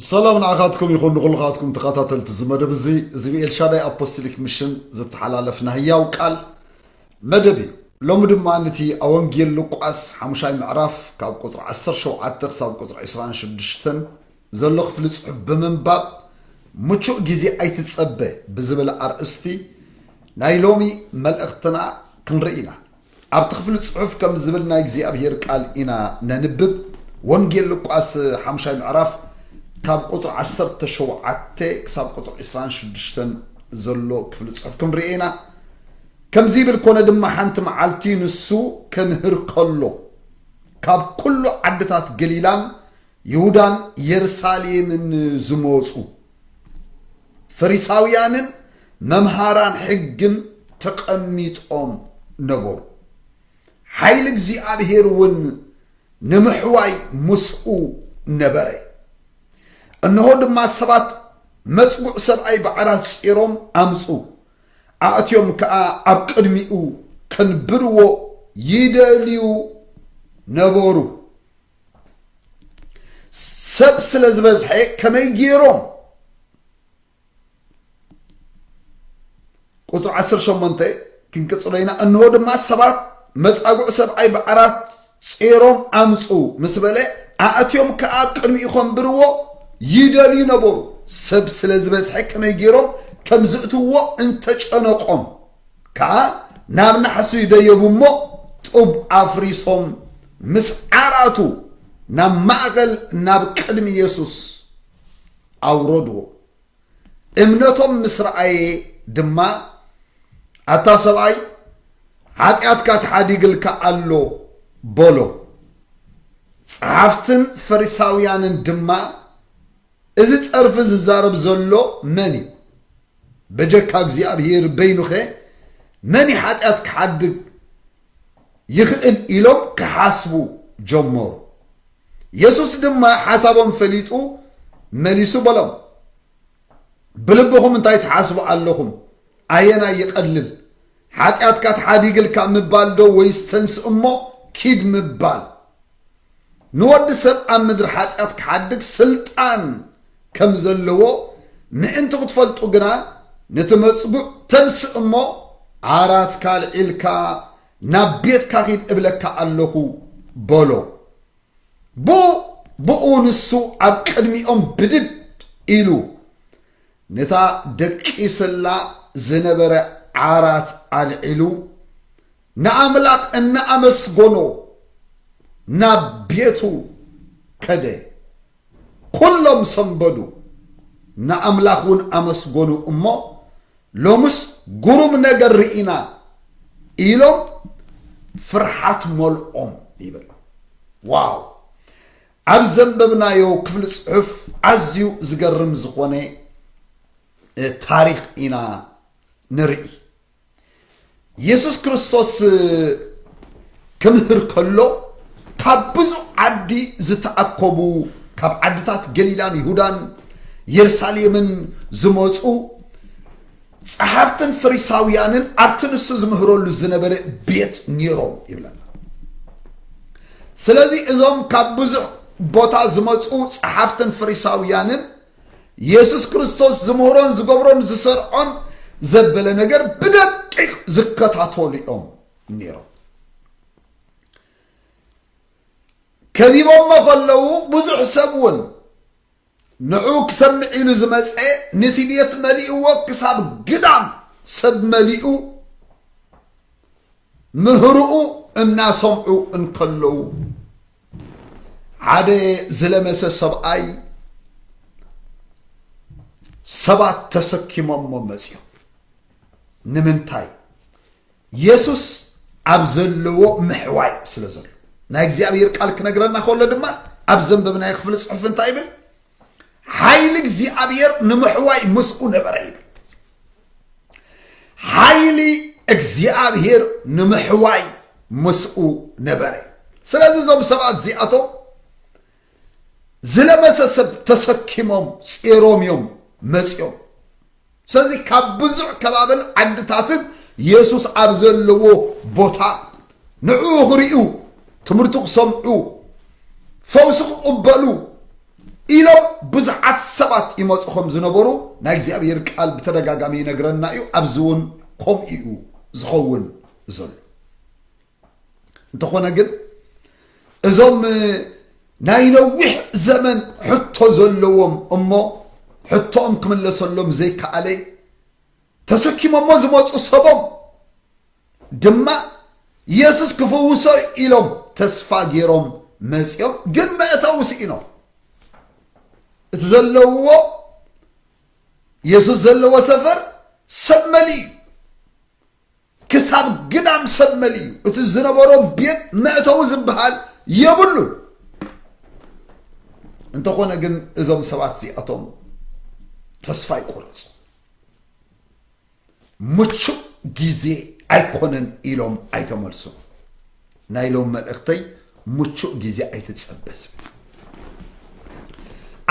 ሰላም ንዓኻትኩም ይኹን ንኹልኻትኩም ተኸታተልቲ እዚ መደብ እዚ እዚ ብኤልሻዳይ ኣፖስቶሊክ ሚሽን ዝተሓላለፍ ናይ ህያው ቃል መደብ እዩ ሎሚ ድማ ነቲ ኣብ ወንጌል ሉቃስ ሓሙሻይ ምዕራፍ ካብ ቁፅሪ 17 ክሳብ ቁፅሪ 26 ዘሎ ክፍሊ ፅሑፍ ብምንባብ ምቹእ ግዜ ኣይትፀበ ብዝብል ኣርእስቲ ናይ ሎሚ መልእኽትና ክንርኢ ኢና ኣብቲ ክፍሊ ጽሑፍ ከም ዝብል ናይ እግዚኣብሄር ቃል ኢና ነንብብ ወንጌል ሉቃስ ሓሙሻይ ምዕራፍ ካብ ቁጽሪ ዓሰርተ ሸውዓተ ክሳብ ቁጽሪ ዕስራን ሽዱሽተን ዘሎ ክፍሊ ጽሑፍ ክንርኤ ኢና ከምዚ ይብል ኮነ ድማ ሓንቲ መዓልቲ ንሱ ክምህር ከሎ ካብ ኩሉ ዓድታት ገሊላን ይሁዳን የሩሳሌምን ዝመፁ ፈሪሳውያንን መምሃራን ሕግን ተቐሚጦም ነበሩ። ሓይሊ እግዚኣብሔር እውን ንምሕዋይ ምስኡ ነበረ እንሆ ድማ ሰባት መፅጉዕ ሰብኣይ ባዕራት ፂሮም ኣምፁ ኣእትዮም ከዓ ኣብ ቅድሚኡ ከንብርዎ ይደልዩ ነበሩ ሰብ ስለ ዝበዝሐ ከመይ ገይሮም ቁፅሪ 18 ክንቅፅሎ ኢና እንሆ ድማ ሰባት መፃጉዕ ሰብኣይ ብዓራት ጼሮም ኣምፁ ምስ በለ ኣእትዮም ከዓ ቅድሚኡ ከንብርዎ ይደልዩ ነበሩ ሰብ ስለ ዝበዝሐ ከመይ ገይሮም ከም ዝእትዎ እንተጨነቆም ከኣ ናብ ናሕሲ ደየቡ እሞ ጡብ ኣፍሪሶም ምስ ዓራቱ ናብ ማእኸል ናብ ቅድሚ የሱስ ኣውረድዎ። እምነቶም ምስ ረኣየ ድማ ኣታ ሰብኣይ ሓጢኣትካ ተሓዲግልካ ኣሎ በሎ። ጸሓፍትን ፈሪሳውያንን ድማ እዚ ጸርፊ ዝዛረብ ዘሎ መን እዩ በጀካ እግዚኣብሄር በይኑኸ መን እዩ ሓጢኣት ክሓድግ ይኽእል ኢሎም ክሓስቡ ጀመሩ የሱስ ድማ ሓሳቦም ፈሊጡ መሊሱ በሎም ብልብኹም እንታይ ትሓስቡ ኣለኹም ኣየናይ ይቐልል ሓጢኣትካ ተሓዲግልካ ምባል ዶ ወይስ ተንስ እሞ ኪድ ምባል ንወዲ ሰብ ኣብ ምድሪ ሓጢኣት ክሓድግ ስልጣን ከም ዘለዎ ምእንቲ ክትፈልጡ ግና፣ ነቲ መጽጉዕ ተንስእ እሞ፣ ዓራትካ ኣልዒልካ ናብ ቤትካ ኺድ እብለካ ኣሎኹ በሎ። ብኡብኡ ንሱ ኣብ ቅድሚኦም ብድድ ኢሉ፣ ነታ ደቂስላ ዝነበረ ዓራት ኣልዒሉ፣ ንኣምላኽ እናኣመስገኖ ናብ ቤቱ ከደ። ኵሎም ሰንበዱ፣ ንኣምላኽ እውን ኣመስገኑ እሞ፣ ሎምስ ግሩም ነገር ርኢና ኢሎም ፍርሓት መልኦም ይብል። ዋው ኣብ ዘንበብናዮ ክፍሊ ጽሑፍ ኣዝዩ ዝገርም ዝኾነ ታሪኽ ኢና ንርኢ የሱስ ክርስቶስ ክምህር ከሎ ካብ ብዙ ዓዲ ዝተኣከቡ ካብ ዓድታት ገሊላን ይሁዳን የሩሳሌምን ዝመፁ ጸሓፍትን ፈሪሳውያንን ኣብቲ ንሱ ዝምህረሉ ዝነበረ ቤት ነይሮም ይብለና ስለዚ እዞም ካብ ብዙሕ ቦታ ዝመፁ ጸሓፍትን ፈሪሳውያንን የሱስ ክርስቶስ ዝምህሮን ዝገብሮን ዝሰርዖን ዘበለ ነገር ብደቂቕ ዝከታተሉ እዮም ነይሮም ከቢቦሞ ከለዉ ብዙሕ ሰብ እውን ንዑ ክሰምዕ ኢሉ ዝመፀ ነቲ ቤት መሊእዎ ክሳብ ግዳም ሰብ መሊኡ ምህርኡ እናሰምዑ እንከለዉ ሓደ ዝለመሰ ሰብኣይ ሰባት ተሰኪሞሞ መፅዮም ንምንታይ የሱስ ኣብ ዘለዎ ምሕዋይ ስለ ዘሎ ናይ እግዚኣብሔር ቃል ክነግረና ከሎ ድማ ኣብ ዘንበብናዮ ክፍሊ ፅሑፍ እንታይ ይብል ሓይሊ እግዚኣብሔር ንምሕዋይ ምስኡ ነበረ ይብል ሓይሊ እግዚኣብሔር ንምሕዋይ ምስኡ ነበረ ስለዚ እዞም ሰባት እዚኣቶም ዝለመሰ ሰብ ተሰኪሞም ፂሮም እዮም መፅኦም ስለዚ ካብ ብዙሕ ከባብን ዓድታትን የሱስ ኣብ ዘለዎ ቦታ ንዕኡ ክርእዩ ትምህርቱ ክሰምዑ ፈውሲ ክቕበሉ ኢሎም ብዙሓት ሰባት ይመፁ ከም ዝነበሩ ናይ እግዚኣብሔር ቃል ብተደጋጋሚ ይነግረና እዩ ኣብዚ እውን ከምኡ እዩ ዝኸውን ዘሎ እንተኾነ ግን እዞም ናይ ነዊሕ ዘመን ሕቶ ዘለዎም እሞ ሕቶኦም ክምለሰሎም ዘይከኣለ ተሰኪሞሞ ዝመፁ ሰቦም ድማ የሱስ ክፍውሶ እዩ ኢሎም ተስፋ ገይሮም መጺኦም ግን መእተዊ ስኢኖም እቲ ዘለውዎ የሱስ ዘለዎ ሰፈር ሰብ መሊ እዩ ክሳብ ግዳም ሰብ መሊ እዩ እቲ ዝነበሮ ቤት መእተዊ ዝበሃል የብሉን እንተኾነ ግን እዞም ሰባት እዚኣቶም ተስፋ ይቆረፁ ምቹእ ግዜ ኣይኮነን ኢሎም ኣይተመልሱን። ናይ ሎም መልእኽተይ ምቹእ ግዜ ኣይትጸበ ዝብል እዩ።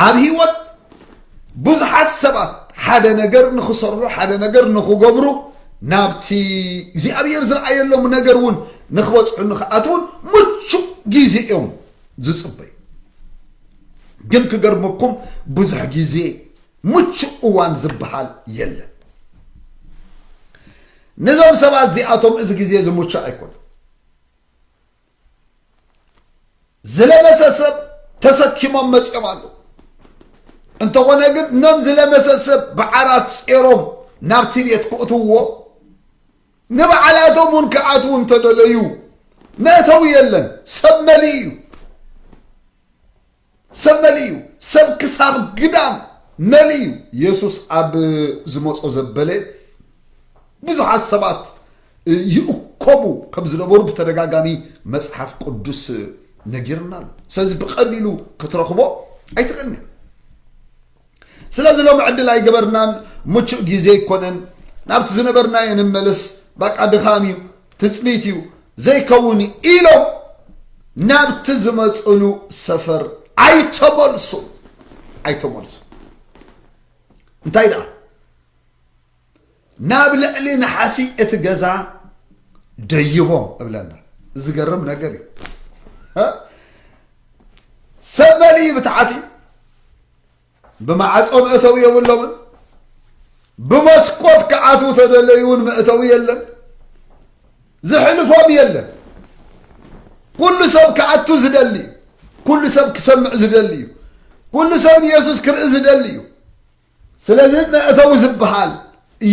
ኣብ ህይወት ብዙሓት ሰባት ሓደ ነገር ንኽሰርሑ ሓደ ነገር ንኽገብሩ ናብቲ እግዚኣብሔር ዝረኣየሎም ነገር እውን ንኽበፅሑ ንኽኣትውን ምቹእ ግዜ እዮም ዝፅበዩ ግን ክገርመኩም ብዙሕ ግዜ ምቹእ እዋን ዝበሃል የለን። ነዞም ሰባት እዚኣቶም እዚ ግዜ እዚ ምቹእ ኣይኮነን። ዝለመሰ ሰብ ተሰኪሞም መፅኦም ኣለዉ። እንተኾነ ግን እኖም ዝለመሰ ሰብ ብዓራት ጼሮም ናብቲ ቤት ክእትዎ ንበዓላቶም እውን ክኣትዉ እንተደለዩ መእተዊ የለን፣ ሰብ መሊእ እዩ። ሰብ መሊኡ እዩ ሰብ ክሳብ ግዳም መሊኡ እዩ የሱስ ኣብ ዝመጾ ዘበለ ብዙሓት ሰባት ይእከቡ ከም ዝነበሩ ብተደጋጋሚ መጽሓፍ ቅዱስ ነጊርና ኣሎ ስለዚ ብቐሊሉ ክትረኽቦ ኣይትኽእልኒ ስለዚ ሎሚ ዕድል ኣይገበርናን ምቹእ ግዜ ኣይኮነን ናብቲ ዝነበርናዮ ንመለስ ባቃ ድኻም እዩ ትፅቢት እዩ ዘይከውን ኢሎም ናብቲ ዝመፅሉ ሰፈር ኣይተመልሱ ኣይተመልሱ እንታይ ደኣ ናብ ልዕሊ ነሓሲ እቲ ገዛ ደይቦም እብለና ዝገርም ነገር እዩ ሰብ መሊ ብታዕቲ ብማዕፆ መእተዊ የብሎምን ብመስኮት ክኣትዉ ተደለዩ እውን መእተዊ የለን ዝሕልፎም የለን ኩሉ ሰብ ክኣቱ ዝደሊ እዩ ኩሉ ሰብ ክሰምዕ ዝደሊ እዩ ኩሉ ሰብ ንየሱስ ክርኢ ዝደሊ እዩ ስለዚ መእተዊ ዝበሃል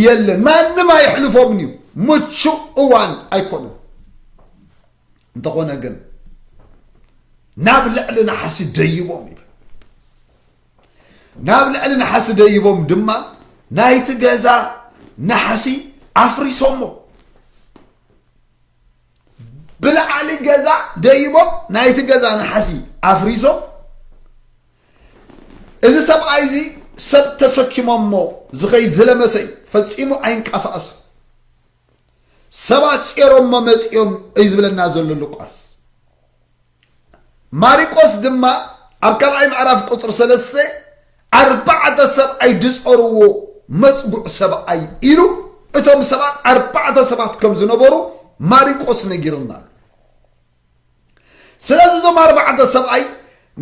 የለን፣ ማንም ኣየሕልፎምን እዩ፣ ምቹእ እዋን ኣይኮነን። እንተኾነ ግን ናብ ልዕሊ ነሓሲ ደይቦም ይብል ናብ ልዕሊ ነሓሲ ደይቦም ድማ ናይቲ ገዛ ነሓሲ ኣፍሪሶሞ ብልዓሊ ገዛ ደይቦም ናይቲ ገዛ ነሓሲ ኣፍሪሶም እዚ ሰብኣይ እዚ ሰብ ተሰኪሞሞ ዝኸይድ ዝለመሰ እዩ ፈጺሙ ኣይንቀሳቀስን ሰባት ጼሮሞ መጺኦም እዩ ዝብለና ዘሎ ሉቃስ ማሪቆስ ድማ ኣብ ካልኣይ ምዕራፍ ቁፅሪ ሰለስተ ኣርባዕተ ሰብኣይ ድፀርዎ መፅጉዕ ሰብኣይ ኢሉ እቶም ሰባት ኣርባዕተ ሰባት ከም ዝነበሩ ማሪቆስ ነጊርና ኣሎ ስለዚ እዞም ኣርባዕተ ሰብኣይ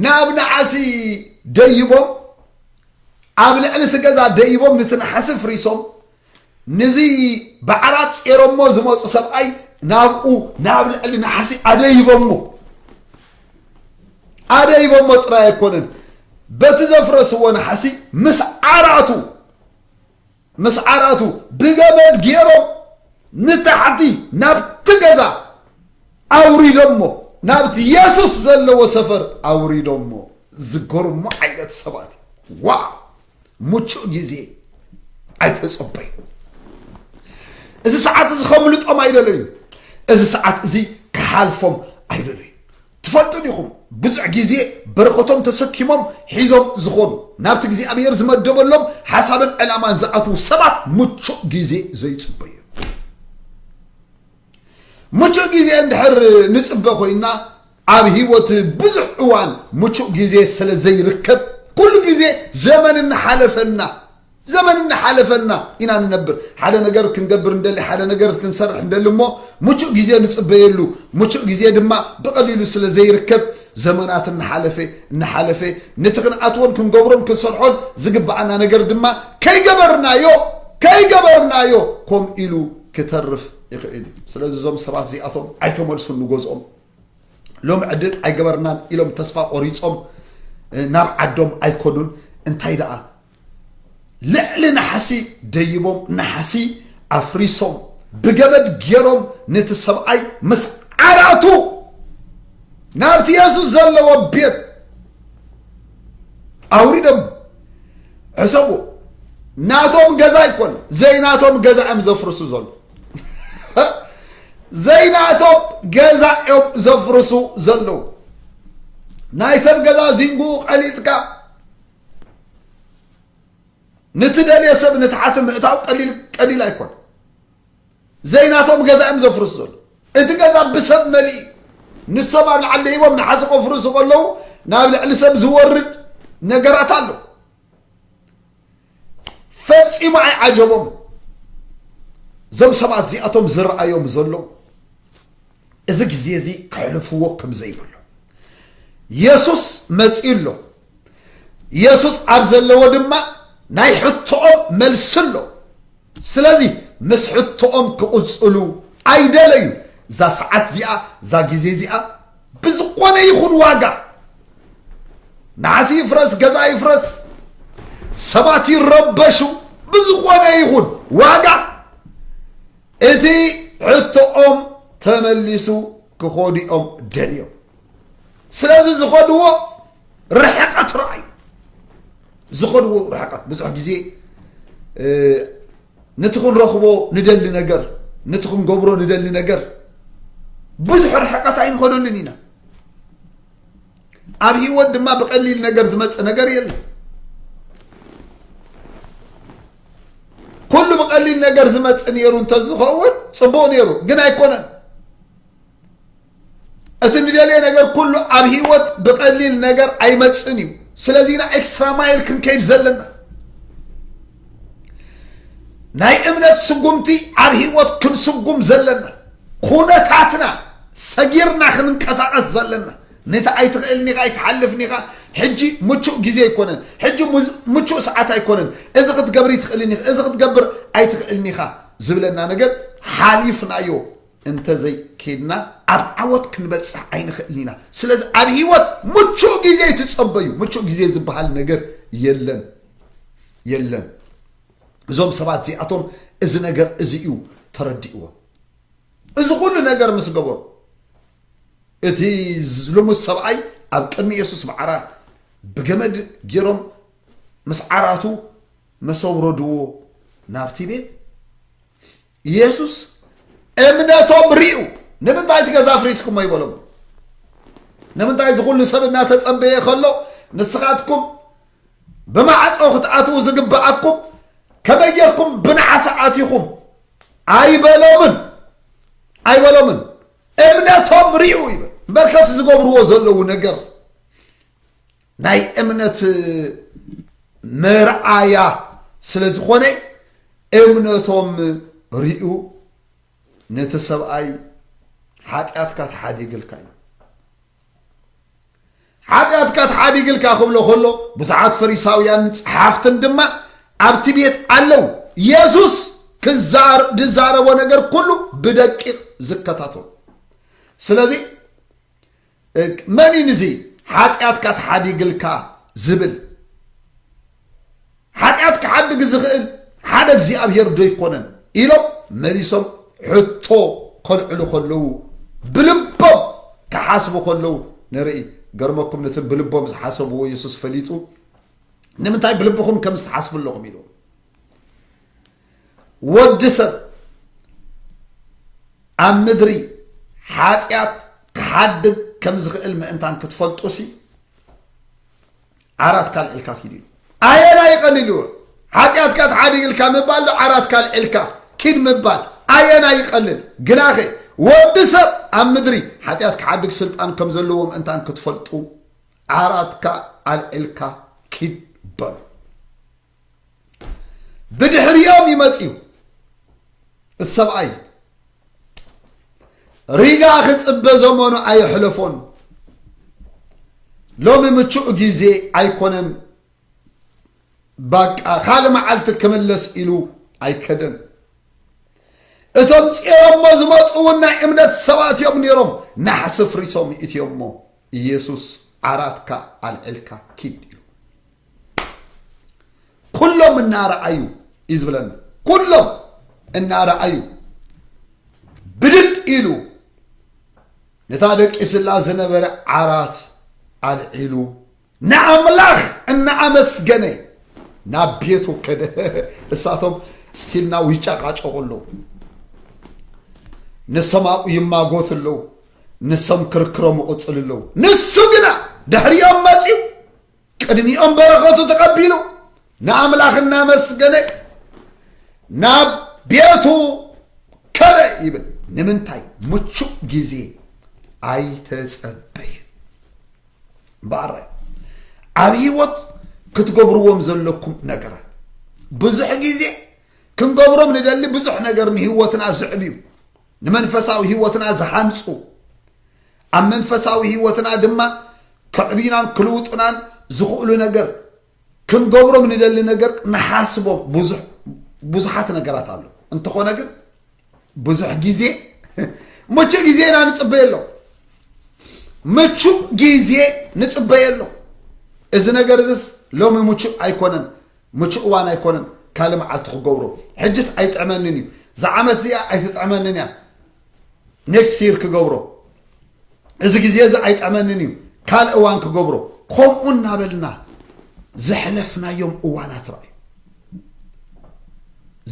ንኣብ ነዓሲ ደይቦም ኣብ ልዕሊ እቲ ገዛ ደይቦም ንቲ ነሓሲ ፍሪሶም ንዚ ብዓራት ጼሮሞ ዝመፁ ሰብኣይ ናብኡ ናብ ልዕሊ ነሓሲ ኣደይቦሞ ኣደይቦሞ ጥራይ ኣይኮነን በቲ ዘፍረስዎ ነሓሲ ምስ ዓራቱ ምስ ዓራቱ ብገመድ ጌሮም ንታሕቲ ናብቲ ገዛ ኣውሪዶሞ ናብቲ የሱስ ዘለዎ ሰፈር ኣውሪዶሞ ዝገርሙ ዓይነት ሰባት ዋ ሙቹእ ግዜ ኣይተጸበዩ እዚ ሰዓት እዚ ከምልጦም ኣይደለዩ እዚ ሰዓት እዚ ክሓልፎም ኣይደለዩ ትፈልጡ ዲኹም ብዙሕ ግዜ በረኸቶም ተሰኪሞም ሒዞም ዝኾኑ ናብቲ እግዚኣብሔር ዝመደበሎም ሓሳብን ዕላማን ዝኣትዉ ሰባት ምቹእ ግዜ ዘይጽበዩ ምቹእ ግዜ እንድሕር ንጽበ ኮይና ኣብ ህይወት ብዙሕ እዋን ምቹእ ግዜ ስለ ዘይርከብ ኩሉ ግዜ ዘመን እናሓለፈና ዘመን እናሓለፈና ኢና ንነብር። ሓደ ነገር ክንገብር ንደሊ፣ ሓደ ነገር ክንሰርሕ ንደሊ እሞ ምቹእ ግዜ ንጽበየሉ። ምቹእ ግዜ ድማ ብቐሊሉ ስለ ዘይርከብ ዘመናት እናሓለፈ እናሓለፈ ነቲ ክንኣትዎን ክንገብሮን ክንሰርሖን ዝግብኣና ነገር ድማ ከይገበርናዮ ከይገበርናዮ ከምኡ ኢሉ ክተርፍ ይኽእል እዩ። ስለዚ እዞም ሰባት እዚኣቶም ኣይተመልሱን ንገዝኦም። ሎም ዕድል ኣይገበርናን ኢሎም ተስፋ ቆሪጾም ናብ ዓዶም ኣይኮኑን እንታይ ደኣ ልዕሊ ናሕሲ ደይቦም ናሕሲ ኣፍሪሶም ብገመድ ገይሮም ነቲ ሰብኣይ ምስ ዓራቱ ናብቲ የሱስ ዘለዎ ቤት ኣውሪዶም ሕሰቡ ናቶም ገዛ ኣይኮነ ዘይናቶም ገዛ እዮም ዘፍርሱ ዘሎ ዘይናቶም ገዛ እዮም ዘፍርሱ ዘለዉ ናይ ሰብ ገዛ ዚንጉኡ ቀሊጥካ ንትደልዮ ሰብ ንትሓቲ ምእታው ቀሊል ቀሊል ኣይኮነ ዘይናቶም ገዛ እዮም ዘፍርሱ ዘሎ እቲ ገዛ ብሰብ መሊእ እዩ ንሶም ኣብ ልዓሊ ደይቦም ንሓዚ ከፍርሱ ከለዉ ናብ ልዕሊ ሰብ ዝወርድ ነገራት ኣሎ ፈፂሙ ኣይዓጀቦም እዞም ሰባት እዚኣቶም ዝረኣዮም ዘሎ እዚ ግዜ እዚ ክሕልፍዎ ከም ዘይብሉ የሱስ መፂኡ ኣሎ ኢየሱስ ኣብ ዘለዎ ድማ ናይ ሕቶኦም መልሲ ኣሎ ስለዚ ምስ ሕቶኦም ክቕፅሉ ኣይደለዩ እዛ ሰዓት እዚኣ እዛ ግዜ እዚኣ ብዝኾነ ይኹን ዋጋ ናዓሲ ይፍረስ ገዛ ይፍረስ ሰባት ይረበሹ ብዝኾነ ይኹን ዋጋ እቲ ሕቶኦም ተመሊሱ ክኸዱ እዮም ደልዮም ስለዚ ዝኸድዎ ርሕቐት ረኣዩ ዝኸድዎ ርሕቐት ብዙሕ ግዜ ነቲ ክንረኽቦ ንደሊ ነገር ነቲ ክንገብሮ ንደሊ ነገር ብዙሕ ርሕቐት ኣይንኸደሉን ኢና ኣብ ህይወት ድማ ብቐሊል ነገር ዝመፅእ ነገር የለን ኩሉ ብቀሊል ነገር ዝመፅእ ነይሩ እንተዝኸውን ፅቡቅ ነይሩ ግን ኣይኮነን እቲ ንደልየ ነገር ኩሉ ኣብ ሂወት ብቀሊል ነገር ኣይመፅእን እዩ ስለዚ ኢና ኤክስትራ ማይል ክንከይድ ዘለና ናይ እምነት ስጉምቲ ኣብ ሂወት ክንስጉም ዘለና ኩነታትና ሰጊርና ክንንቀሳቀስ ዘለና ነቲ ኣይትኽእልን ኢኻ ኣይትሓልፍን ኢኻ ሕጂ ምቹእ ግዜ ኣይኮነን ሕጂ ምቹእ ሰዓት ኣይኮነን እዚ ክትገብር ይትኽእልን ኢኻ እዚ ክትገብር ኣይትኽእልን ኢኻ ዝብለና ነገር ሓሊፍናዮ እንተዘይኬድና ኣብ ዓወት ክንበፅሕ ኣይንኽእልን ኢና ስለዚ ኣብ ሂወት ምቹእ ግዜ ትፀበዩ ምቹእ ግዜ ዝበሃል ነገር የለን የለን እዞም ሰባት እዚኣቶም እዚ ነገር እዚ እዩ ተረዲእዎ እዚ ኩሉ ነገር ምስ ገበሩ እቲ ልሙስ ሰብኣይ ኣብ ቅድሚ የሱስ ማዕራ ብገመድ ጌሮም ምስ ዓራቱ መስ ኣውረድዎ ናብቲ ቤት የሱስ እምነቶም ርዩ ንምንታይ እቲ ገዛ ፍሪስኩሞ ይበሎም ንምንታይ እዚ ኩሉ ሰብ እናተጸበየ ከሎ ንስኻትኩም ብማዕጾ ክትኣትዉ ዝግብኣኩም ከመይ ጌርኩም ብናዓሳ ኣቲኹም ኣይበሎምን ኣይበሎምን እምነቶም ርኡ ይበል በርከት ዝገብርዎ ዘለዉ ነገር ናይ እምነት መርኣያ ስለ ዝኾነ እምነቶም ርኡ ነቲ ሰብኣይ ሓጢኣትካ ተሓዲግልካ እዩ ሓጢኣትካ ተሓዲግልካ ክብሎ ከሎ ብዙሓት ፈሪሳውያን ጸሓፍትን ድማ ኣብቲ ቤት ኣለዉ የሱስ ዝዛረቦ ነገር ኩሉ ብደቂቕ ዝከታተሉ ስለዚ መን እዩ ንዚ ሓጢኣትካ ተሓዲግልካ ዝብል ሓጢኣት ክሓድግ ዝኽእል ሓደ እግዚኣብሔር ዶ ኣይኮነን ኢሎም መሊሶም ሕቶ ከልዕሉ ከለዉ ብልቦም ክሓስቡ ከለዉ ንርኢ ገርመኩም ነቲ ብልቦም ዝሓሰብዎ የሱስ ፈሊጡ ንምንታይ ብልብኹም ከም ዝትሓስቡ ኣለኹም ኢሉ ወዲ ሰብ ኣብ ምድሪ ሓጢኣት ክሓድግ ከም ዝኽእል ምእንታን ክትፈልጡሲ ዓራት ካልዕልካ ኪድ ኢሉ ኣየናይ ይቐልልዎ ሓጢኣትካ ተሓዲግልካ ምባል ዶ ዓራት ካልዕልካ ኪድ ምባል ኣየናይ ይቐልል ግናኸ ወዲ ሰብ ኣብ ምድሪ ሓጢኣት ክሓድግ ስልጣን ከም ዘለዎ ምእንታን ክትፈልጡ ዓራትካ ኣልዕልካ ኪድ በሉ ብድሕሪኦም ይመፅዩ እሰብኣይ ሪጋ ክፅበ ዘመኑ ኣየሕለፎን ሎሚ ምቹእ ግዜ ኣይኮነን ባቃ ካልእ መዓልቲ ክምለስ ኢሉ ኣይከደን እቶም ፂሮሞ ዝመፁ እውን ናይ እምነት ሰባት እዮም ነይሮም ናሕሲ ፍሪሶም እትዮሞ ኢየሱስ ዓራትካ ኣልዒልካ ኪድ ኢሉ ኩሎም እናረኣዩ እዩ ዝብለና ኩሎም እናረኣዩ ብድድ ኢሉ ነታ ደቂስላ ዝነበረ ዓራት ኣልዒሉ ንኣምላኽ እናኣመስገነ ናብ ቤቱ ከደ እሳቶም ስቲልናው ይጨቃጨቁ ኣለዉ ንሰማኡ ይማጎት ኣለዉ ንሶም ክርክሮም ይቕፅሉ ኣለዉ ንሱ ግና ድሕሪኦም መፂኡ ቅድሚኦም በረኸቱ ተቐቢሉ ንኣምላኽ እናመስገነ ናብ ቤቱ ከደ ይብል ንምንታይ ምቹእ ግዜ ኣይተፀበየን በኣራይ ኣብ ህይወት ክትገብርዎም ዘለኩም ነገራት ብዙሕ ግዜ ክንገብሮም ንደሊ ብዙሕ ነገር ንህይወትና ዝዕብ እዩ ንመንፈሳዊ ህይወትና ዝሃንጹ ኣብ መንፈሳዊ ህይወትና ድማ ከዕብዩናን ክልውጡናን ዝኽእሉ ነገር ክንገብሮም ንደሊ ነገር ንሓስቦም ብዙሓት ነገራት ኣሎ እንተኾነ ግን ብዙሕ ግዜ ምቹ ግዜ ኢና ንፅበየ ኣሎ ምቹ ግዜ ንፅበየ ኣሎ እዚ ነገር እዚስ ሎሚ ምቹእ ኣይኮነን ምቹእ እዋን ኣይኮነን ካልእ መዓልቲ ክገብሮ ሕጅስ ኣይጥዕመንን እዩ ዝዓመት እዚኣ ኣይትጥዕመንን እያ ኔክስት ይር ክገብሮ እዚ ግዜ እዚ ኣይጥዕመንን እዩ ካልእ እዋን ክገብሮ ከምኡ እናበልና ዘሕለፍናዮም እዋናት ረኣዩ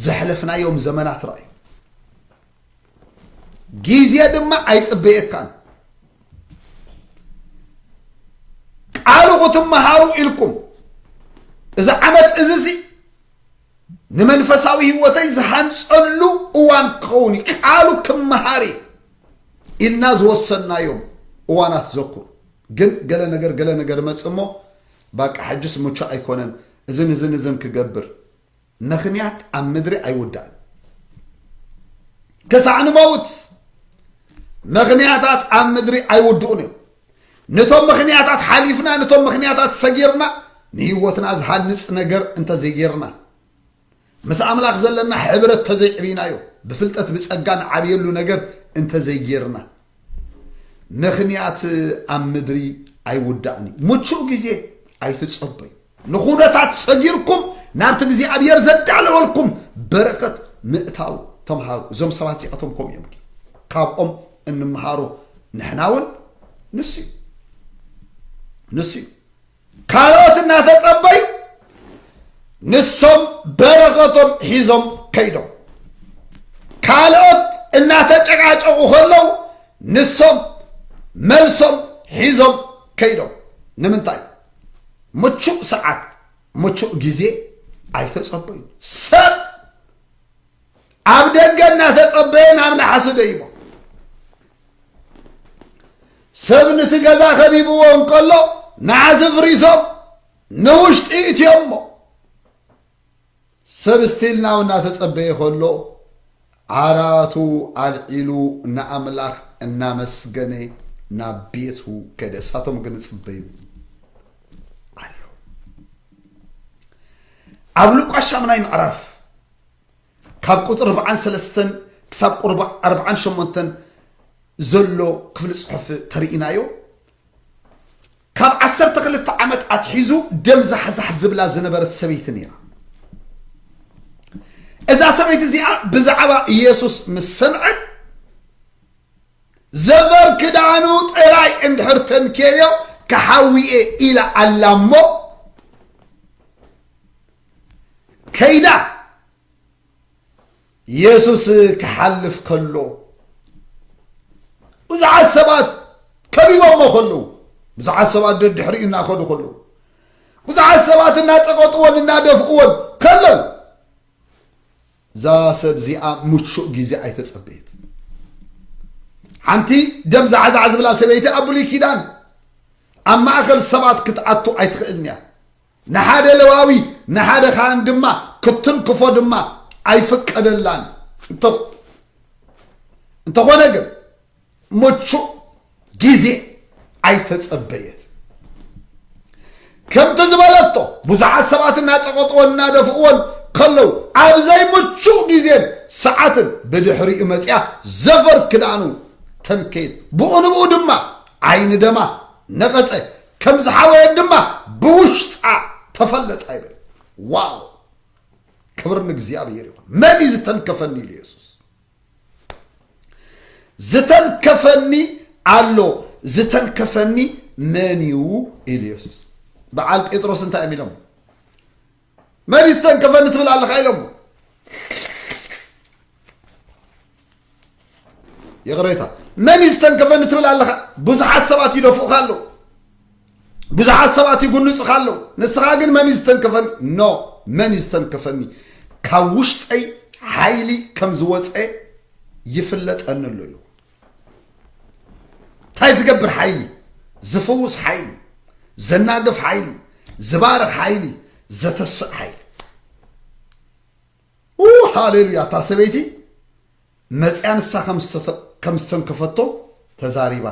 ዘሕለፍናዮም ዘመናት ረኣዩ ግዜ ድማ ኣይፅበየካን ቃሉ ክትመሃሩ ኢልኩም እዚ ዓመት እዚ ሲ ንመንፈሳዊ ህይወተይ ዝሃንፀሉ እዋን ክኸውን እዩ ቃሉ ክመሃር ኢልና ዝወሰናዮም እዋናት ዘኩር ግን ገለ ነገር ገለ ነገር መፅ እሞ ባቃ ሕጅስ ምቹ ኣይኮነን እዝን እዝን እዝን ክገብር ምኽንያት ኣብ ምድሪ ኣይውዳእን ክሳዕ ንመውት ምኽንያታት ኣብ ምድሪ ኣይውድኡን እዮም ነቶም ምኽንያታት ሓሊፍና ነቶም ምኽንያታት ሰጊርና ንህይወትና ዝሃንፅ ነገር እንተዘይጌርና ምስ ኣምላኽ ዘለና ሕብረት ተዘይዕብናዮ ብፍልጠት ብፀጋ ንዓብየሉ ነገር እንተዘይጌርና ምኽንያት ኣብ ምድሪ ኣይውዳእን እዩ ምቹእ ግዜ ኣይትፀበዩ ንኹነታት ሰጊርኩም ናብቲ እግዚኣብሔር ዘዳለወልኩም በረከት ምእታው ተምሃሩ። እዞም ሰባት እዚኣቶም ከምኡ እዮም። ካብኦም እንምሃሮ ንሕና እውን ንሱ እዩ ንሱ እዩ ካልኦት እናተጸበዩ ንሶም በረኸቶም ሒዞም ከይዶም ካልኦት እናተጨቃጨቑ ከለው ንሶም መልሶም ሒዞም ከይዶም ንምንታይ ምቹእ ሰዓት ምቹእ ግዜ ኣይተጸበዩ ሰብ ኣብ ደገ እናተጸበየ ናብ ነሓሲ ደይቦ ሰብ ንቲ ገዛ ከቢብዎ እንከሎ ነሓሲ ፍሪሶም ንውሽጢ እትዮሞ ሰብ ስቲል ናው እናተጸበየ ከሎ ዓራቱ ኣልዒሉ ንኣምላኽ እናመስገነ ናብ ቤቱ ከደ። እሳቶም ግን ይጽበዩ ኣለዉ። ኣብ ሉቃስ ሻምናይ ምዕራፍ ካብ ቁፅሪ ኣርባዓን ሰለስተን ክሳብ ቁርባ ኣርባዓን ሸሞንተን ዘሎ ክፍሊ ፅሑፍ ተርእናዮ ካብ ዓሰርተ ክልተ ዓመት ኣትሒዙ ደም ዛሕዛሕ ዝብላ ዝነበረት ሰበይቲ ነይራ እዛ ሰበይቲ እዚኣ ብዛዕባ ኢየሱስ ምስ ሰምዐት ዘበር ክዳኑ ጥራይ እንድሕር ተንኬዮ ክሓዊኤ ኢላ ኣላ እሞ ከይዳ ኢየሱስ ክሓልፍ ከሎ ብዙሓት ሰባት ከቢቦሞ ከለዉ ብዙሓት ሰባት ደድሕሪኡ እናኸዱ ከለዉ ብዙሓት ሰባት እናጸቀጥዎን እናደፍእዎን ከለዉ እዛ ሰብ እዚኣ ምቹእ ግዜ ኣይተጸበየት ሓንቲ ደም ዛዕዛዕ ዝብላ ሰበይቲ ኣብ ብሉይ ኪዳን ኣብ ማእኸል ሰባት ክትኣቱ ኣይትኽእልን እያ ንሓደ ለዋዊ ንሓደ ካህን ድማ ክትንክፎ ድማ ኣይፍቀደላን እዩ። እንተኾነ ግን ምቹእ ግዜ ኣይተጸበየት ከምቲ ዝበለቶ ብዙሓት ሰባት እናጸቐጥዎን እናደፍእዎን ከለዉ ኣብ ዘይምቹእ ግዜን ሰዓትን ብድሕሪኡ መፅያ ዘፈር ክዳኑ ተንከየት ብኡ ንብኡ ድማ ዓይኒ ደማ ነቐፀ ከም ዝሓወየት ድማ ብውሽጣ ተፈለጣ ይብል ዋው ክብር ንእግዚኣብሔር ይኹን መን እዩ ዝተንከፈኒ ኢሉ የሱስ ዝተንከፈኒ ኣሎ ዝተንከፈኒ መን እዩ ኢሉ የሱስ በዓል ጴጥሮስ እንታይ እዮም ኢሎም መን እዩ ዝተንከፈኒ ትብል ኣለኻ ኢሎሞ ይቕሬታ መን እዩ ዝተንከፈኒ ትብል ኣለኻ ብዙሓት ሰባት ይደፍኡኻ ኣለዉ ብዙሓት ሰባት ይጉንፅኻ ኣለዉ ንስኻ ግን መን እዩ ዝተንከፈኒ ኖ መን እዩ ዝተንከፈኒ ካብ ውሽጠይ ሓይሊ ከም ዝወፀ ይፍለጠኒ ኣሎ ኢሉ እንታይ ዝገብር ሓይሊ ዝፍውስ ሓይሊ ዘናግፍ ሓይሊ ዝባርኽ ሓይሊ ዘተስእ ሓይሊ ሃሌሉያ እታ ሰበይቲ መፅያ ንሳ ከም ዝተንከፈቶ ተዛሪባ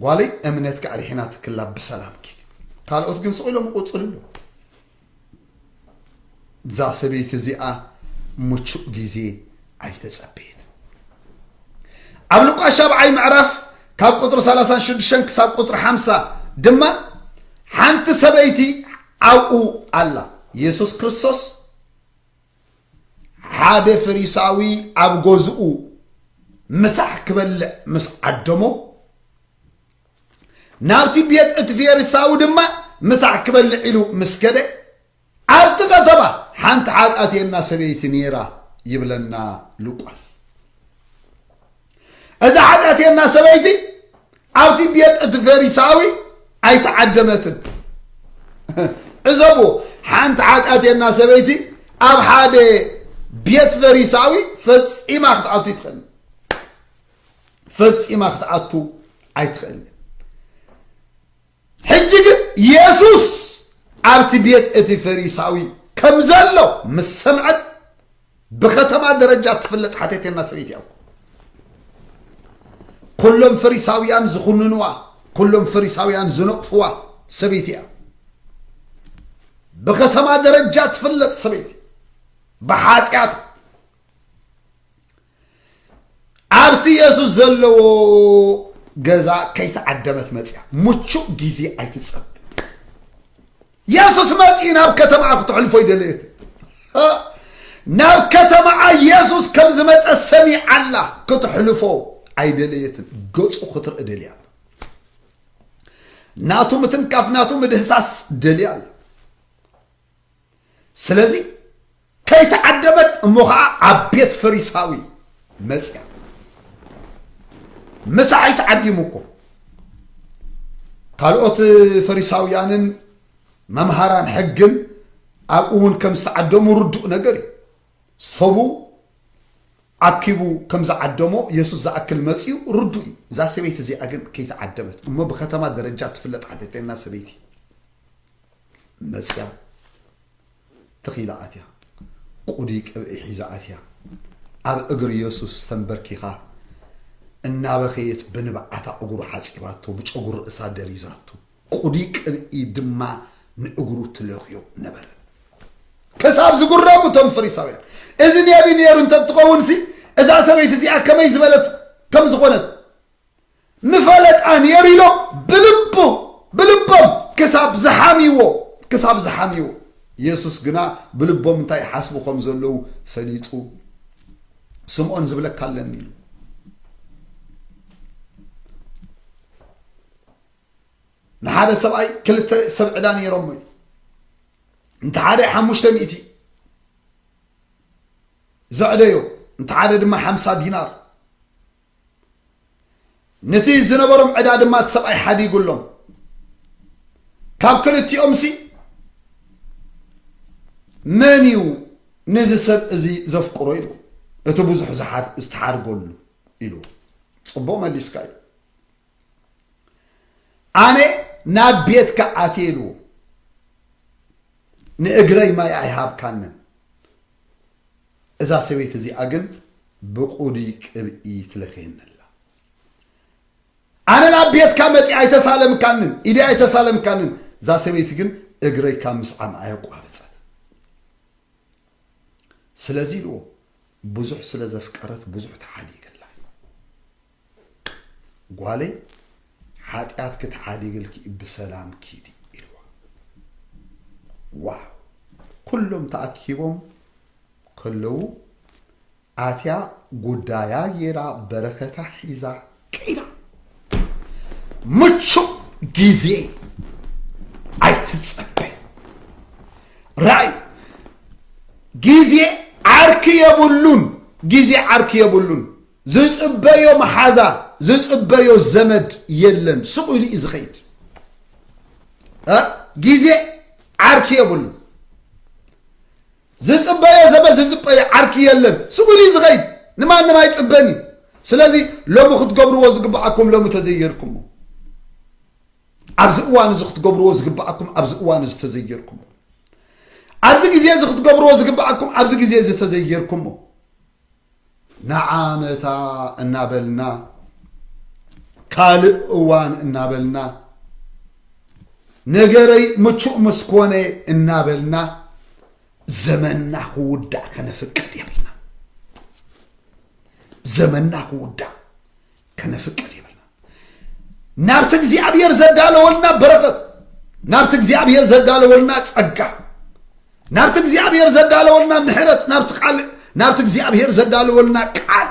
ጓለይ እምነትኪ ኣድሒና ትክላ ብሰላምኪ ካልኦት ግን ስቕ ኢሎም ይቑፅሉ ኣለዉ እዛ ሰበይቲ እዚኣ ምቹእ ግዜ ኣይተፀበየት ኣብ ልቋሽ ኣብዓይ ምዕራፍ ካብ ቁፅሪ 36 ክሳብ ቁፅሪ 50 ድማ ሓንቲ ሰበይቲ ኣብኡ ኣላ የሱስ ክርስቶስ ሓደ ፈሪሳዊ ኣብ ገዝኡ ምሳሕ ክበልዕ ምስ ዓደሞ ናብቲ ቤት እቲ ፌሪሳዊ ድማ ምሳሕ ክበልዕ ኢሉ ምስ ከደ ኣብቲ ከተማ ሓንቲ ሓጢኣተየና ሰበይቲ ነይራ ይብለና ሉቃስ እዛ ሓጢኣትየና ሰበይቲ ኣብቲ ቤት እቲ ፈሪሳዊ ኣይተዓደመትን ዕዘቡ ሓንቲ ሓጢኣትየና ሰበይቲ ኣብ ሓደ ቤት ፈሪሳዊ ፈፂማ ክትኣቱ ይትኽእል ፈፂማ ክትኣቱ ኣይትኽእል ሕጂ ግን የሱስ ኣብቲ ቤት እቲ ፈሪሳዊ ከም ዘሎ ምስ ሰምዐት ብኸተማ ደረጃ እትፍለጥ ሓተቴና ሰበይቲ እያ እኮ ኩሎም ፈሪሳውያን ዝኹንንዋ ኩሎም ፈሪሳውያን ዝነቕፍዋ ሰበይቲ እያ ብኸተማ ደረጃ እትፍለጥ ሰበይቲ ብሓጢኣት ኣብቲ የሱስ ዘለዎ ገዛ ከይተዓደመት መፅያ ምቹእ ግዜ ኣይትፀብ የሱስ መፅኢ ናብ ከተማኣ ክትሕልፎ ይደለየት ናብ ከተማኣ የሱስ ከም ዝመፀ ሰሚዓላ ክትሕልፎ ኣይደለየትን ገፁ ክትርኢ ደልያ ኣላ ናቱ ምትንካፍ ናቱ ምድህሳስ ደልያ ኣላ ስለዚ ከይተዓደመት እሞ ከዓ ኣብ ቤት ፈሪሳዊ መፅያ ምሳዕ ኣይተዓዲሙ እኮ ካልኦት ፈሪሳውያንን መምሃራን ሕግን ኣብኡ እውን ከም ዝተዓደሙ ርዱእ ነገር እዩ ሰቡ ኣኪቡ ከም ዝዓደሞ የሱስ ዝኣክል መፅኡ ርዱእ እዩ እዛ ሰበይቲ እዚኣ ግን ከይተዓደመት እሞ ብከተማ ደረጃ ትፍለጥ ሓተተና ሰበይቲ መጽያ ተኺላ ኣትያ፣ ቁዲ ቅብኢ ሒዛ ኣትያ፣ ኣብ እግሪ የሱስ ተምበርኪኻ እናበኸየት ብንብዓታ እግሩ ሓጺባቶ፣ ብጨጉሪ ርእሳ ደሪዛቶ፣ ቁዲ ቅብኢ ድማ ንእግሩ ትለኽዮ ነበረ። ክሳብ ዝጉረሙ እቶም ፈሪሳውያን እዚ ነቢ ነይሩ እንተትኸውንሲ እዛ ሰበይቲ እዚኣ ከመይ ዝበለት ከም ዝኾነት ምፈለጣ ኔሩ ኢሎም ብልቡ ብልቦም ክሳብ ዝሓምይዎ ክሳብ ዝሓምይዎ የሱስ ግና ብልቦም እንታይ ይሓስቡ ከም ዘለዉ ፈሊጡ ስምዖን ዝብለካ ኣለኒ ኢሉ ንሓደ ሰብኣይ ክልተ ሰብ ዕዳ ነይሮሞ እዩ እንተ ሓደ ሓሙሽተ ሚእቲ ዘዕደዮ እንተ ሓደ ድማ ሓምሳ ዲናር ነቲ ዝነበሮም ዕዳ ድማ እቲ ሰብኣይ ሓዲጉሎም ካብ ክልቲኦምሲ መን እዩ ነዚ ሰብ እዚ ዘፍቅሮ ኢሉ እቲ ብዙሕ ዝተሓድገሉ ኢሉ ፅቡቅ መሊስካ እዩ ኣነ ናብ ቤትካ ኣትየ ኢልዎ ንእግረይ ማይ ኣይሃብካንን እዛ ሰበይቲ እዚኣ ግን ብቁዱይ ቅብኢ ትለክየኒ ኣላ ኣነ ናብ ቤትካ መጺ ኣይተሳለምካንን ኢዲ ኣይተሳለምካንን እዛ ሰበይቲ ግን እግረይ ካብ ምስዓም ኣየቋርጸት ስለዚ ኢልዎ ብዙሕ ስለ ዘፍቀረት ብዙሕ ተሓዲገላ እዩ ጓለይ ሓጢኣትኪ ተዓዲግልኪ እዩ ብሰላም ኪዲ ኢልዋ ዋው ኩሎም ተኣኪቦም ከለዉ ኣትያ ጉዳያ ጌራ በረከታ ሒዛ ከይዳ ምቹእ ግዜ ኣይትጸበይ ራእይ ግዜ ዓርኪ የብሉን ግዜ ዓርኪ የብሉን ዝፅበዮ መሓዛ ዝፅበዮ ዘመድ የለን ስቕ ኢሉ እዩ ዝኸይድ ግዜ ዓርኪ የብሉ ዝፅበዮ ዘመድ ዝፅበዮ ዓርኪ የለን ስቕ ኢሉ እዩ ዝኸይድ ንማንም ኣይፅበን እዩ ስለዚ ሎሚ ክትገብርዎ ዝግብኣኩም ሎሚ ተዘይጌርኩሞ ኣብዚ እዋን እዚ ክትገብርዎ ዝግብኣኩም ኣብዚ እዋን እዚ ተዘይጌርኩሞ ኣብዚ ግዜ እዚ ክትገብርዎ ዝግብኣኩም ኣብዚ ግዜ እዚ ተዘይጌርኩሞ ንዓ መታ እናበልና ካልእ እዋን እናበልና ነገረይ ምቹእ ምስ ኮነ እናበልና ዘመንና ክውዳእ ከነፍቅድ የብልና ዘመንና ክውዳእ ከነፍቅድ የብልና ናብቲ እግዚኣብሔር ዘዳለወልና በረኸት ናብቲ እግዚኣብሔር ዘዳለወልና ጸጋ ናብቲ እግዚኣብሔር ዘዳለወልና ምሕረት ናብቲ ቃል ናብቲ እግዚኣብሔር ዘዳለወልና ቃል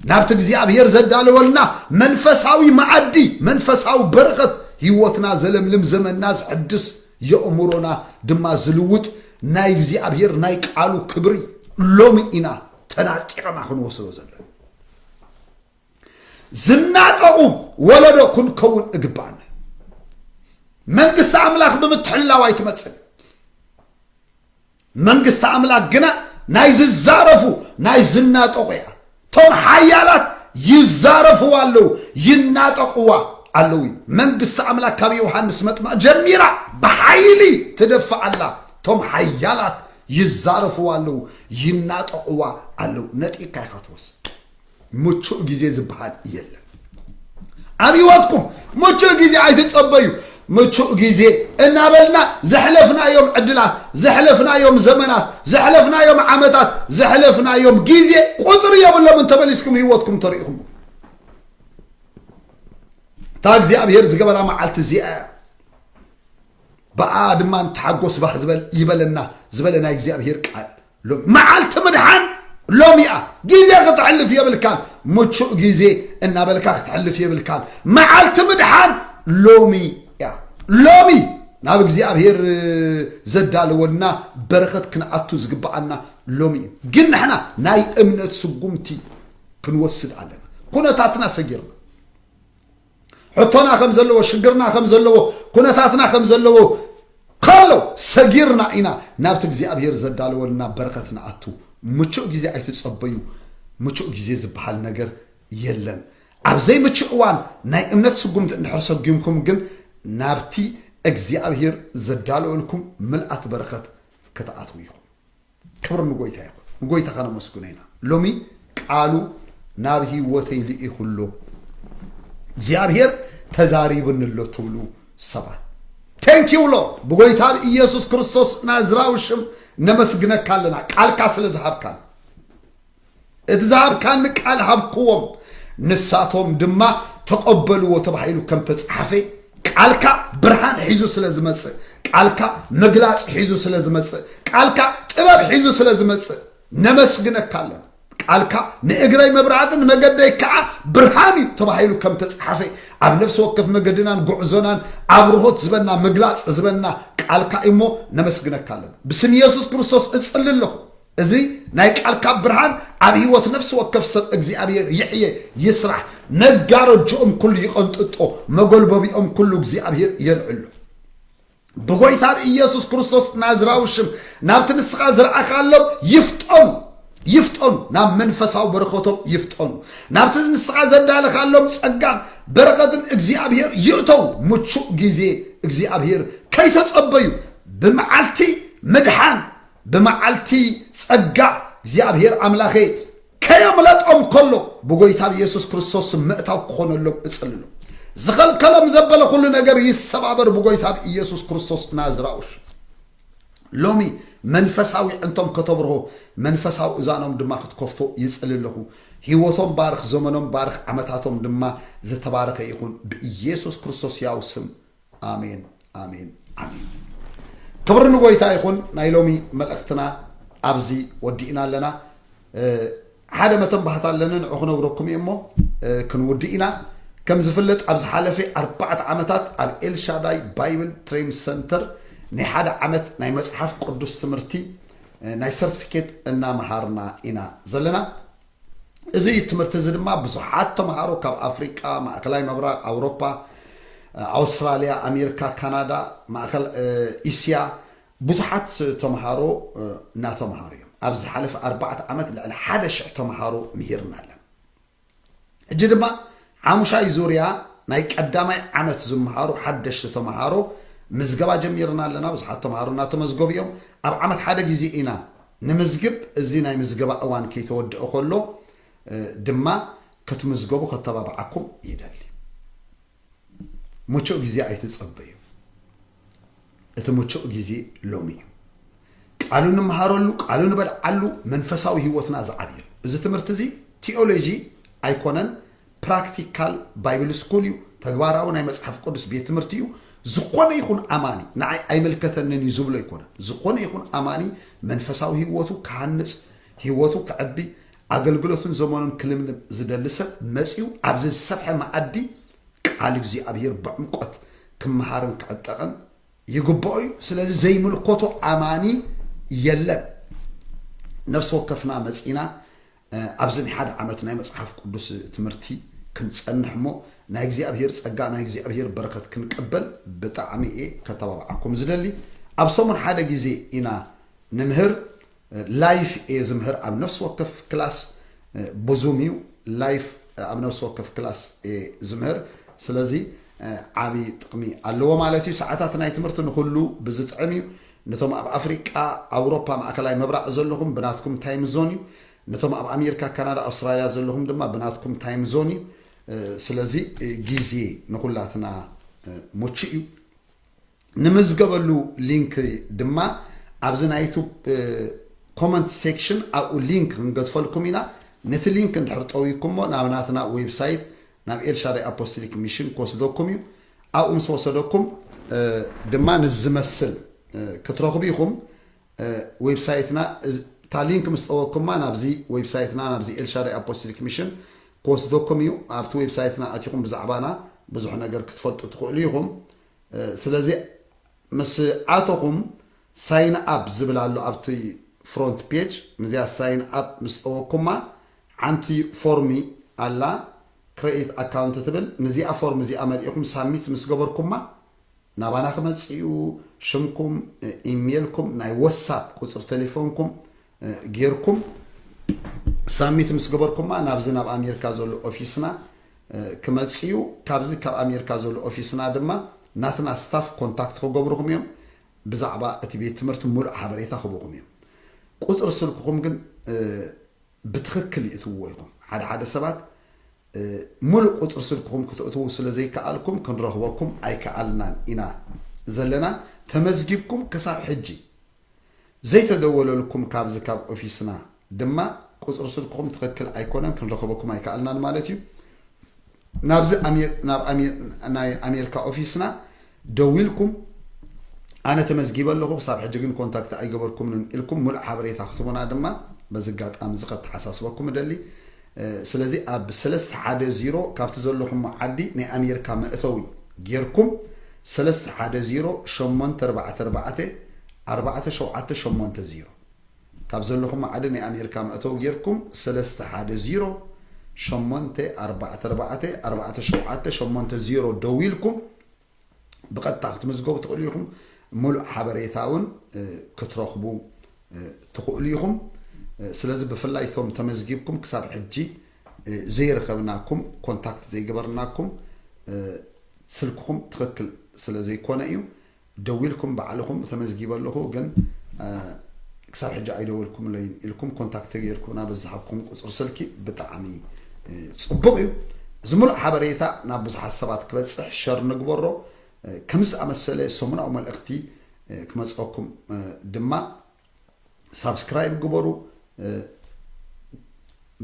ናብቲ እግዚኣብሔር ዘዳለወልና መንፈሳዊ መዓዲ መንፈሳዊ በረኸት ህይወትና ዘለምልም ዘመንና ዝሕድስ የእምሮና ድማ ዝልውጥ ናይ እግዚኣብሔር ናይ ቃሉ ክብሪ ሎሚ ኢና ተናጢቕና ክንወስዶ ዘለና ዝናጠቑ ወለዶ ክንከውን እግባኣና መንግስቲ ኣምላኽ ብምትሕላው ኣይትመፅን መንግስቲ ኣምላኽ ግና ናይ ዝዛረፉ ናይ ዝናጠቑ እያ እቶም ሓያላት ይዛረፍዋ ኣለዉ ይናጠቕዋ ኣለዉ እዩ መንግስቲ ኣምላኽ ካብ ዮሃንስ መጥምቕ ጀሚራ ብሓይሊ ትደፍእ ኣላ እቶም ሓያላት ይዛረፍዋ ኣለው ይናጠቅዋ ኣለው ነጢካ ኢካ ትወስድ ምቹእ ግዜ ዝበሃል የለን ኣብ ህይወትኩም ምቹእ ግዜ ኣይትጸበዩ ምቹእ ግዜ እናበልና ዘሕለፍናዮም ዕድላት ዘሕለፍናዮም ዘመናት ዘሕለፍናዮም ዓመታት ዘሕለፍናዮም ግዜ ቁፅሪ የብሎም እንተመሊስኩም ህይወትኩም ተሪኢኹም እታ እግዚኣብሄር ዝገበራ መዓልቲ እዚኣ እያ ብኣኣ ድማ ንተሓጎስ ባህ ዝበል ይበለና ዝበለ ናይ እግዚኣብሄር ቃል ሎሚ መዓልቲ ምድሓን ሎሚ እያ ግዜ ክተሕልፍ የብልካን ምቹእ ግዜ እናበልካ ክተሕልፍ የብልካን መዓልቲ ምድሓን ሎሚ እያ ሎሚ ናብ እግዚኣብሄር ዘዳለወልና በረኸት ክንኣቱ ዝግብኣና ሎሚ እዩ ግን ንሕና ናይ እምነት ስጉምቲ ክንወስድ ኣለና ኩነታትና ሰጊርና ሕቶና ከም ዘለዎ ሽግርና ከም ዘለዎ ኩነታትና ከም ዘለዎ ከሎ ሰጊርና ኢና ናብቲ እግዚኣብሄር ዘዳለወልና በረኸት ንኣቱ ምቹእ ግዜ ኣይትጸበዩ ምቹእ ግዜ ዝበሃል ነገር የለን ኣብ ዘይምቹእ እዋን ናይ እምነት ስጉምቲ እንድሕር ሰጒምኩም ግን ናብቲ እግዚኣብሄር ዘዳለወልኩም ምልኣት በረኸት ክትኣትዉ ኢኹም ክብሪ ንጎይታ ይኹን ንጎይታ ከነመስግኖ ኢና ሎሚ ቃሉ ናብ ህይወተይ ልኢኹ ኣሎ እግዚኣብሔር ተዛሪብኒ ኣሎ ትብሉ ሰባት ቴንኪው ሎ ብጎይታ ብኢየሱስ ክርስቶስ ናዝራዊ ሽም ነመስግነካ ኣለና ቃልካ ስለ ዝሃብካን እቲ ዝሃብካኒ ቃል ሃብክዎም፣ ንሳቶም ድማ ተቐበልዎ ተባሂሉ ከም ተጸሓፈ፣ ቃልካ ብርሃን ሒዙ ስለ ዝመጽእ፣ ቃልካ ምግላጽ ሒዙ ስለ ዝመጽእ፣ ቃልካ ጥበብ ሒዙ ስለ ዝመጽእ ነመስግነካ ኣለና። ቃልካ ንእግረይ መብራህቲ ንመገደይ ከዓ ብርሃን እዩ ተባሂሉ ከም ተጸሓፈ ኣብ ነፍሲ ወከፍ መገድናን ጉዕዞናን ኣብርሆት ዝበና ምግላጽ ዝበና ቃልካ እሞ ነመስግነካ ኣለና። ብስም ኢየሱስ ክርስቶስ እጽሊ ኣለኹ። እዚ ናይ ቃልካ ብርሃን ኣብ ህይወት ነፍሲ ወከፍ ሰብ እግዚኣብሔር ይሕየ ይስራሕ መጋረጆኦም ኩሉ ይቐንጥጦ መጎልበቢኦም ኩሉ እግዚኣብሔር የልዕሎ ብጎይታ ብኢየሱስ ክርስቶስ ናዝራዊ ሽም ናብቲ ንስኻ ዝረኣኻሎም ይፍጠኑ ይፍጠኑ ናብ መንፈሳዊ በረኸቶም ይፍጠኑ ናብቲ ንስኻ ዘዳለኻሎም ጸጋን በረኸትን እግዚኣብሔር ይእተው ምቹእ ግዜ እግዚኣብሔር ከይተጸበዩ ብመዓልቲ ምድሓን ብመዓልቲ ጸጋ እግዚኣብሔር ኣምላኸ ከየምለጦም ከሎ ብጎይታ ብኢየሱስ ክርስቶስ ምእታው ክኾነሎም እጽልሎ ዝኸልከሎም ዘበለ ኩሉ ነገር ይሰባበር ብጎይታ ብኢየሱስ ክርስቶስ ናዝራውሽ ሎሚ መንፈሳዊ ዕንቶም ከተብርሆ መንፈሳዊ እዛኖም ድማ ክትከፍቶ ይፅል ኣለኹ ህይወቶም ባርኽ ዘመኖም ባርኽ ዓመታቶም ድማ ዝተባረኸ ይኹን ብኢየሱስ ክርስቶስ ያው ስም ኣሜን ኣሜን ኣሜን ክብሪ ንጎይታ ይኹን ናይ ሎሚ መልእኽትና ኣብዚ ወዲእና ኣለና ሓደ መተን ባህታ ኣለኒ ንዑ ክነግረኩም እየ እሞ ክንውድእ ኢና ከም ዝፍለጥ ኣብ ዝሓለፈ ኣርባዕተ ዓመታት ኣብ ኤልሻዳይ ባይብል ትሬን ሰንተር ናይ ሓደ ዓመት ናይ መፅሓፍ ቅዱስ ትምህርቲ ናይ ሰርቲፊኬት እናምሃርና ኢና ዘለና እዚ ትምህርቲ እዚ ድማ ብዙሓት ተምሃሮ ካብ ኣፍሪቃ፣ ማእከላይ ምብራቕ፣ ኣውሮፓ፣ ኣውስትራልያ፣ ኣሜሪካ፣ ካናዳ፣ ማእከል እስያ ብዙሓት ተምሃሮ እናተምሃሩ እዮም። ኣብ ዝሓለፈ ኣርባዕተ ዓመት ልዕሊ ሓደ ሽሕ ተምሃሮ ምሂርና ኣለና። ሕጂ ድማ ሓሙሻይ ዙርያ ናይ ቀዳማይ ዓመት ዝምሃሩ ሓደሽቲ ተምሃሮ ምዝገባ ጀሚርና ኣለና። ብዙሓት ተምሃሮ እናተመዝገቡ እዮም። ኣብ ዓመት ሓደ ግዜ ኢና ንምዝግብ እዚ ናይ ምዝገባ እዋን ከይተወድኦ ከሎ ድማ ክትምዝገቡ ከተባብዓኩም ይደሊ። ምቹእ ግዜ ኣይትጸበዩ። እቲ ምቹእ ግዜ ሎሚ እዩ። ቃሉ ንምሃረሉ፣ ቃሉ ንበልዓሉ፣ መንፈሳዊ ህይወትና ዝዓብየሉ። እዚ ትምህርቲ እዚ ቲኦሎጂ ኣይኮነን፣ ፕራክቲካል ባይብል ስኩል እዩ፣ ተግባራዊ ናይ መጽሓፍ ቅዱስ ቤት ትምህርቲ እዩ። ዝኾነ ይኹን ኣማኒ ንዓይ ኣይምልከተንን እዩ ዝብሎ ኣይኮነን። ዝኾነ ይኹን ኣማኒ መንፈሳዊ ህይወቱ ክሃንጽ፣ ህይወቱ ክዕቢ፣ ኣገልግሎትን ዘመኑን ክልምልም ዝደሊ ሰብ መጺኡ ኣብዚ ዝሰርሐ መኣዲ ቃል እግዚኣብሔር ብዕምቆት ክመሃርን ክዕጠቕን ይግብኦ እዩ። ስለዚ ዘይምልከቶ ኣማኒ የለን። ነፍሲ ወከፍና መጺና ኣብዚ ናይ ሓደ ዓመት ናይ መጽሓፍ ቅዱስ ትምህርቲ ክንጸንሕ እሞ ናይ እግዚኣብሄር ጸጋ ናይ እግዚኣብሄር በረከት ክንቅበል ብጣዕሚ እየ ከተባብዓኩም ዝደሊ ኣብ ሰሙን ሓደ ግዜ ኢና ንምህር ላይፍ እየ ዝምህር ኣብ ነፍሲ ወከፍ ክላስ ብዙም እዩ ላይፍ ኣብ ነፍሲ ወከፍ ክላስ እየ ዝምህር ስለዚ ዓቢ ጥቅሚ ኣለዎ ማለት እዩ ሰዓታት ናይ ትምህርቲ ንኩሉ ብዝጥዕም እዩ ነቶም ኣብ ኣፍሪቃ ኣውሮፓ ማእከላይ ምብራቅ ዘለኹም ብናትኩም ታይም ዞን እዩ ነቶም ኣብ ኣሜርካ ካናዳ ኣውስትራልያ ዘለኹም ድማ ብናትኩም ታይም ዞን እዩ ስለዚ ጊዜ ንኹላትና ሙቹእ እዩ ንምዝገበሉ ሊንክ ድማ ኣብዚ ናይ ዩቱብ ኮመንት ሴክሽን ኣብኡ ሊንክ ክንገድፈልኩም ኢና ነቲ ሊንክ እንድሕር ጠዊኩሞ ናብ ናትና ዌብሳይት ናብ ኤልሻዳይ ኣፖስቲሊክ ሚሽን ክወስደኩም እዩ ኣብኡ ምስ ወሰደኩም ድማ ንዚ ዝመስል ክትረኽቡ ኢኹም ዌብሳይትና እታ ሊንክ ምስ ጠወኩማ ናብዚ ዌብሳይትና ናብዚ ኤልሻዳይ ኣፖስቲሊክ ሚሽን ክወስደኩም እዩ ኣብቲ ዌብሳይትና ኣቲኹም ብዛዕባና ብዙሕ ነገር ክትፈልጡ ትኽእሉ ኢኹም ስለዚ ምስ ኣተኹም ሳይን ኣብ ዝብል ኣሎ ኣብቲ ፍሮንት ፔጅ ንዚኣ ሳይን ኣብ ምስ ጠወኩማ ዓንቲ ፎርሚ ኣላ ክረኢት ኣካውንት ትብል ንዚኣ ፎርም እዚኣ መልኢኩም ሳሚት ምስ ገበርኩማ ናባና ክመጽእ እዩ ሽምኩም ኢምየልኩም ናይ ወሳፕ ቁጽሪ ተሌፎንኩም ጌርኩም ሳሚት ምስ ገበርኩማ ናብዚ ናብ ኣሜሪካ ዘሎ ኦፊስና ክመጽእ እዩ ካብዚ ካብ ኣሜሪካ ዘሎ ኦፊስና ድማ ናትና ስታፍ ኮንታክት ክገብርኹም እዮም ብዛዕባ እቲ ቤት ትምህርቲ ሙሉእ ሓበሬታ ክቡኩም እዮም ቁፅሪ ስልክኩም ግን ብትክክል ይእትውዎ ኢኩም ሓደ ሓደ ሰባት ሙሉእ ቁፅሪ ስልክኩም ክተእትዉ ስለ ዘይከኣልኩም ክንረክበኩም ኣይከኣልናን ኢና ዘለና ተመዝጊብኩም ክሳብ ሕጂ ዘይተደወለልኩም ካብዚ ካብ ኦፊስና ድማ ቁጽሪ ስልክኹም ትኽክል ኣይኮነን ክንረኽበኩም ኣይከኣልናን ማለት እዩ ናብዚ ናብ ናይ ኣሜሪካ ኦፊስና ደዊልኩም ኣነ ተመዝጊበ ኣለኹ ክሳብ ሕጂ ግን ኮንታክት ኣይገበርኩምንን ኢልኩም ሙሉእ ሓበሬታ ክትቡና ድማ በዚ ኣጋጣሚ እዚ ከተሓሳስበኩም እደሊ ስለዚ ኣብ ሰለስተ ሓደ ዚሮ ካብቲ ዘለኹሞ ዓዲ ናይ ኣሜሪካ መእተዊ ጌርኩም ሰለስተ ሓደ ዚሮ ሸሞንተ ኣርባዕተ ኣርባዕተ ኣርባዕተ ሸውዓተ ሸሞንተ ዚሮ ካብ ዘለኹም ማዕዲ ናይ ኣሜርካ መእተዊ ጌርኩም ሰለስተ ሓደ ዚሮ ሸሞንተ ኣርባዕተ ኣርባዕተ ኣርባዕተ ሸውዓተ ሸሞንተ ዜሮ ደዊልኩም ብቐጥታ ክትምዝገቡ ትኽእሉ ኢኹም ሙሉእ ሓበሬታ እውን ክትረኽቡ ትኽእሉ ኢኹም ስለዚ ብፍላይ እቶም ተመዝጊብኩም ክሳብ ሕጂ ዘይረኸብናኩም ኮንታክት ዘይገበርናኩም ስልክኹም ትኽክል ስለ ዘይኮነ እዩ ደዊልኩም ባዕልኹም ተመዝጊበ ኣለኹ ግን ክሳብ ሕጂ ኣይደወልኩምለይን ኢልኩም ኮንታክት ተገይርኩምና ብዝሃብኩም ቁፅሪ ስልኪ ብጣዕሚ ፅቡቕ እዩ እዚ ሙሉእ ሓበሬታ ናብ ብዙሓት ሰባት ክበፅሕ ሸር ንግበሮ ከምዚ ዝኣመሰለ ሰሙናዊ መልእኽቲ ክመፀኩም ድማ ሳብስክራይብ ግበሩ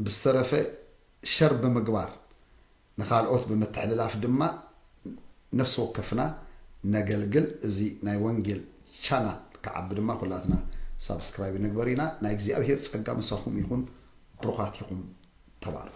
ብዝተረፈ ሸር ብምግባር ንካልኦት ብምትሕልላፍ ድማ ነፍሲ ወከፍና ነገልግል እዚ ናይ ወንጌል ቻናል ክዓቢ ድማ ኩላትና ሳብስክራይብ ንግበር ኢና ናይ እግዚኣብሄር ጸጋ ምሳኹም ይኹን ብሩኻት ኢኹም ተባረኹ።